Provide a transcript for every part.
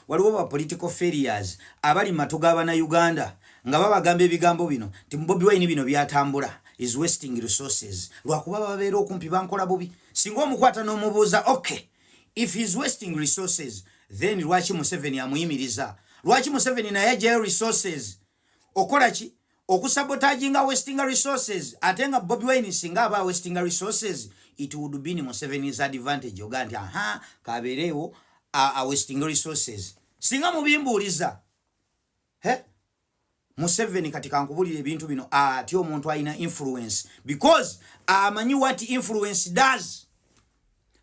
waliwo ba political failures abali matu ga bana Uganda nga babagamba ebigambo bino nti Bobi Wine bino byatambula is wasting resources lwakuba babeera okumpi bankola bubi singa omukwata n'omubuuza okay if he is wasting resources then lwaki Museveni amuyimiriza lwaki Museveni naye ajayo resources okola ki okusabotaginga westinga resources ate nga bobi wine singa aba westinga resources it would be in musevenis advantage oga nti aha kabeereewo a westinga resources singa mubimbuuliza he museveni kati kankubulira ebintu bino ati omuntu alina influence because amanyi what influence does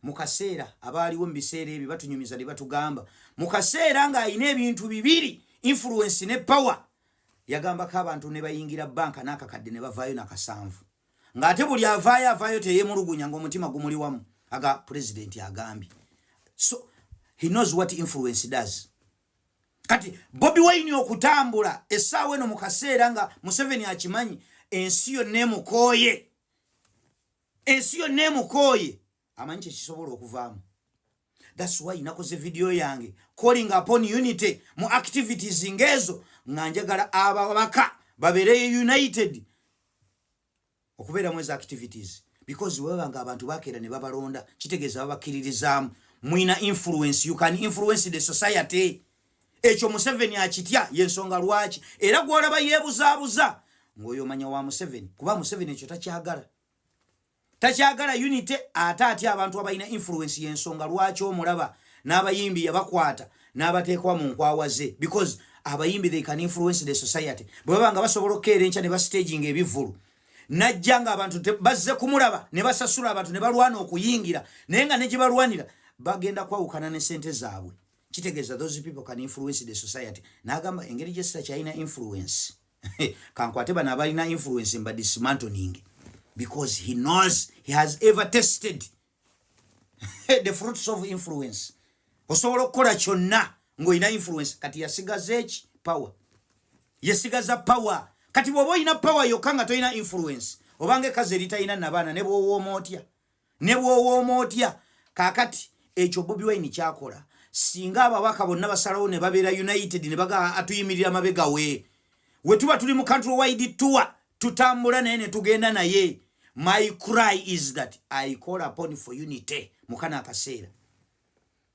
mu kaseera abaaliwo mu biseera ebyo batunyumiza ne batugamba mu kaseera ng'alina ebintu bibiri influence ne power yagambako abantu ne bayingira banka n'akakadde ne bavaayo na kasanvu ng'ate buli avaayo avaayo teyemulugunya ng'omutima gumuli wamu aga pulezidenti agambye so he knows what influence does kati bobi wine okutambula essaawa eno mu kaseera nga museveni akimanyi ensi yonna emukooye ensi yonna emukooye amanyi kyekisobola okuvaamu thats why nakoze vidiyo yange calling upon unity mu activities ngaezo nga njagala ababaka babeereyo united okubeera mu ezo activities because webaba nga abantu bakeera ne babalonda kitegeeza babakkiririzaamu mwina influence you can influence the society ekyo museveni akitya yensonga lwaki era gwolaba yebuzabuza ngaoyo omanya wa museveni kuba museveni ekyo takyagala takyagala unity ate atya abantu abalina influence yensonga lwaki omulaba n'abayimbi yabakwata n'abateekwa mu nkwawa ze because abayimbi they can influence the society bwe baba nga basobola okukeera enkya ne bastaging ebivvulu najja nga abantu bazze kumulaba ne basasula abantu ne balwana okuyingira naye nga ne gye balwanira bagenda kwawukana ne sente zaabwe kitegeeza those people can influence the society n'agamba engeri gye sitakyalina influence kankwate bano abalina influence mba dismantling because he knows he has ever tested the fruits of influence osobola okukola kyonna ng'olina influence kati yasigaza eki power yesigaza power kati bw'oba olina power yokka nga tolina influence obanga ekazi eritalina nabaana ne bwowooma otya ne bwowooma otya kakati ekyo bobi wine kyakola singa ababaka bonna basalawo ne babeera united ne baga atuyimirira mabega we we tuba tuli mu country wide tour tutambula naye ne tugenda naye my cry is that i call upon for unity mukana akaseera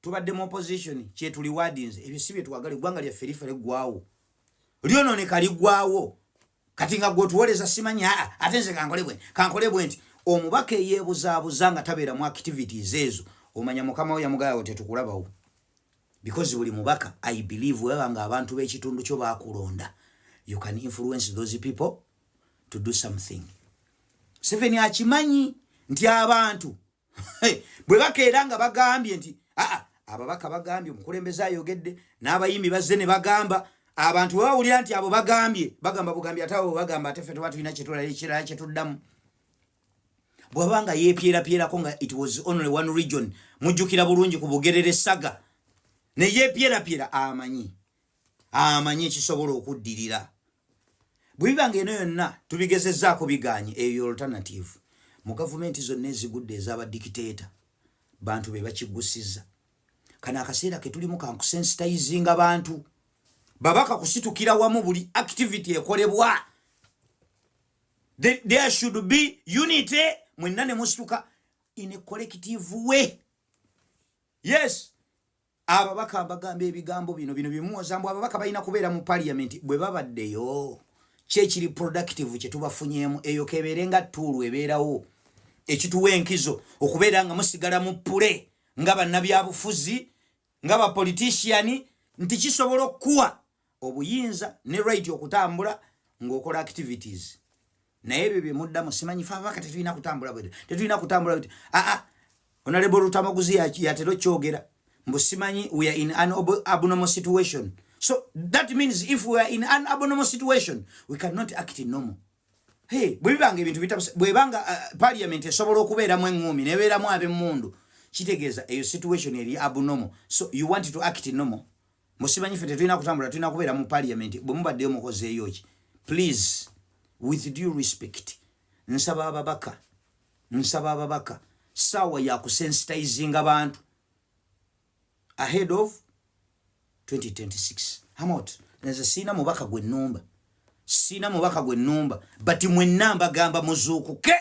tubadde mu opposition kyetuli wadinze ebyo si byetwagala eggwanga lyaffe lifa liggwawo lyonooneka liggwawo kati nga gwe otuwoleza simanyi aa ate nze kankole bwe kankole bwe nti omubaka eyeebuzaabuza nga tabeera mu activities ezo omanya mukama we yamugaawo tetukulabawo because buli mubaka i believe weba nga abantu b'ekitundu kyo bakulonda you can influence those people to do something seven akimanyi nti abantu bwe bakeera nga bagambye nti aa ababaka bagambye omukulembeze ayogedde n'abayimbi bazze ne bagamba abantu bwe bawulira nti abo bagambye bagamba bugambye ate abo bagamba ate ffe tuba tulina kyetulala ekirala kyetuddamu bwaba nga yeepyerapyerako nga it was only one region mujjukira bulungi ku bugerere saga ne yeepyerapyera amanyi amanyi ekisobola okuddirira bwebiba nga eno yonna tubigezezaako biganye eyo alternative mu gavumenti zonna ezigudde ezabadikiteeta bantu be bakiggusiza kano akaseera ketulimu kankusensitizinga bantu babaka kusitukira wamu buli activity ekolebwa there should be unity mwenna ne musituka in a collective way yes ababaka bagamba ebigambo bino bino bimuwoza mbu ababaka balina kubeera mu parliament bwe babaddeyo kyekiri productive kyetubafunyemu eyo kebeere nga tuulu ebeerawo ekituwa enkizo okubeera nga musigala mu pule nga bannabyabufuzi nga bapolitisiani nti kisobola okukuwa obuyinza ne right okutambula ng'okola activities naye ebyo bye muddamu simanyi fe ababaka tetulina kutambula bwe tetulina kutambula bwe aa ah, ah, onalebo olutamaguzi yatera okyogera mbu simanyi we are in an abnormal situation so that means if we are in an abnormal situation we cannot act in normal hey bwe bibanga ebintu bitabuse bwe banga uh, parliament esobola okubeeramu eŋŋuumi nebeeramu ab'emmundu kitegeeza eyo situation eri abnormal so you want to act normal musimanyi fe tetulina kutambula tulina kubeera mu parliament bwe mubaddeyo mukozeeyo ki please with due respect nsaba ababaka nsaba ababaka saawa ya kusensitizinga bantu ahead of 2026 hamot nze siina mubaka gwe numba siina mubaka gwe numba but mwenna mbagamba muzuukuke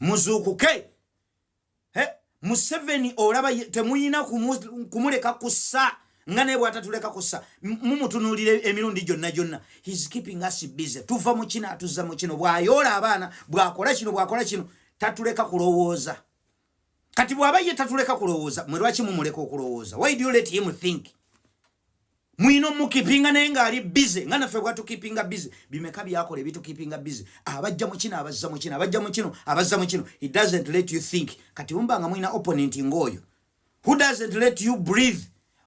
muzuukuke he museveni olaba temuyina kumuleka kusa nga naye bwatatuleka kusa mumutunulira emirundi gyonna gyonna his keeping us busy tuva mu kino atuzza mu kino bwayoola abaana bwakola kino bwakola kino tatuleka kulowooza kati bwaba ye tatuleka kulowooza mwe lwaki mumuleka okulowooza why do you let him think Mwino mukipinga naye nga ali busy nga nafe kwatu kipinga busy bimeka byakole bitu kipinga busy abajja mu kino abazza mu kino abajja mu kino abazza mu kino it doesn't let you think kati umba nga mwina opponent ngoyo who doesn't let you breathe